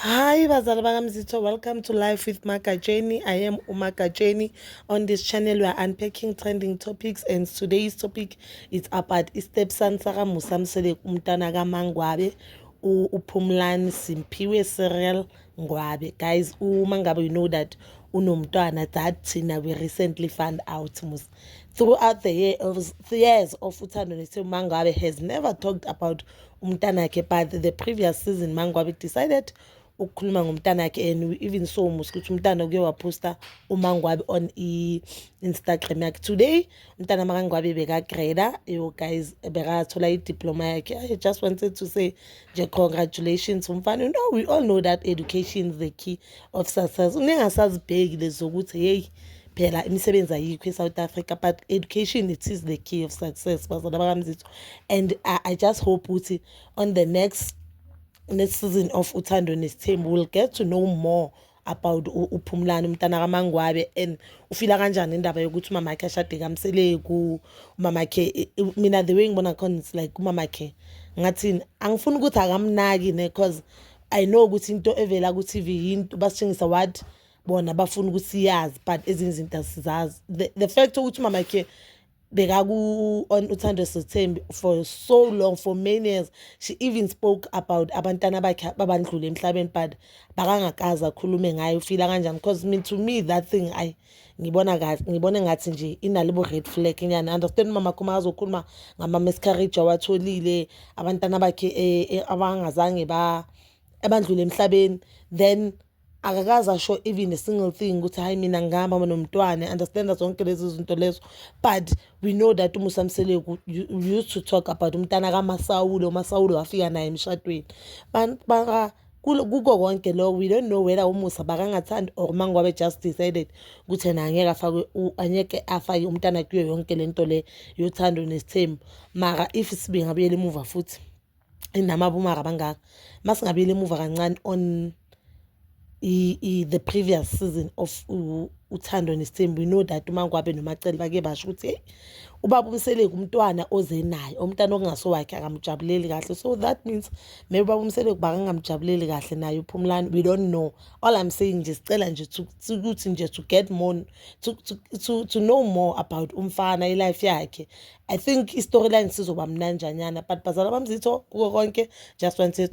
Hi bazali bakamzitho welcome to life with magatsheni i am umagatsheni on this channel we are unpacking trending topics and today's topic is about istepson sakamusa msele umntana kamangwabe uphumlani simphiwe serial ngwabe guys uma ngabe you know that unomntwana that thina we recently found out musa throughout the year of years of uthando nithe umangwabe has never talked about umntanakhe but the previous season mangwabe decided ukukhuluma ngomntanakhe and we even saw musa ukuthi umntana kuye waphosta umangwabe on i-instagram yakhe today umntana makangwabe bekagreda yo guys bekathola idiploma yakhe i just wanted to say nje congratulations umfana you know we all know that education is the key of success ningasazibheki lezokuthi hey phela imisebenzi ayikho e-south africa but education it is the key of success bazala bakamzitho and I, i just hope ukuthi on the next next season of uthando nesithembu will get to know more about uphumulani umntana kamangwabe and ufila kanjani indaba yokuthi umama wakhe ashade kamseleku umama wakhe mina the way ngibona khona it's like umama wakhe ngathini angifuni ukuthi akamnaki ne cause i know ukuthi into evela ku TV yinto basitshengisa what bona bafuna ukuthi siyazi but ezinye izinto asizazi the, the fact ukuthi umama wakhe bekaku on uthando sethembi for so long for many years she even spoke about abantana bakhe babandlule emhlabeni but bakangakaza akhulume ngayo ufila kanjani because me to me that thing i ngibona kahle ngibona ngathi nje inalibo red flag nyana understand mama khoma azokhuluma ngama miscarriage awatholile abantana bakhe eh, eh, abangazange ba abandlule emhlabeni then akakaze asho even a single thing ukuthi hayi mina ngihamba nomntwana understand zonke lezi zinto lezo but we know that umusa mseleku used to talk about umntana kamasawule umasawule wafika naye emshadweni kuko konke lo we don't know whether umusa bakangathandi or mangobe just decided ukuthi yena angeke afake angeke afake umntana kuyo yonke lento le yothando nesithembu mara if sibinga buyela emuva futhi inama abomaka bangaka masingabuyela emuva kancane on i, i, the previous season of uthando nesithembu you know that umangwabe nomacele bake basho ukuthi hey ubaba umseleku umntwana oze naye umntana okungase wakhe akamjabuleli kahle so that means maybe ubaba umseleku bakangamjabuleli kahle naye uphumlani we don't know all i'm saying nje sicela nje ukuthi nje to get more to, to, to, to know more about umfana ilife yakhe I think i-storyline sizoba mnanjanyana but bazala bamzitho kuko konke just want to,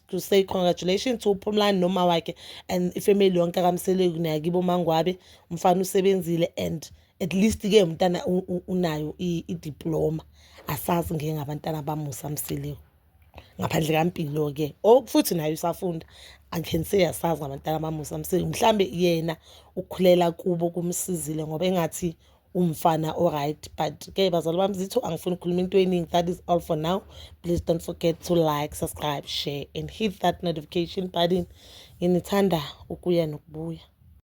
to say congratulations to uphumlani noma wakhe and ifamily yonke akamseleku nayakibo mangwabe umfana usebenzile and at least ke umntana unayo i-diploma asazi ngeke ngabantana bamusa mseleku ngaphandle kampilo ke oh, futhi naye usafunda angikhe nise yasazi ngabantana bamusa mseleku mhlambe yena ukhulela kubo kumsizile ngoba engathi umfana oright but ke bazali bami zitho angifuni ukukhuluma into eningi that is all for now please don't forget to like subscribe share and hit that notification button nginithanda ukuya nokubuya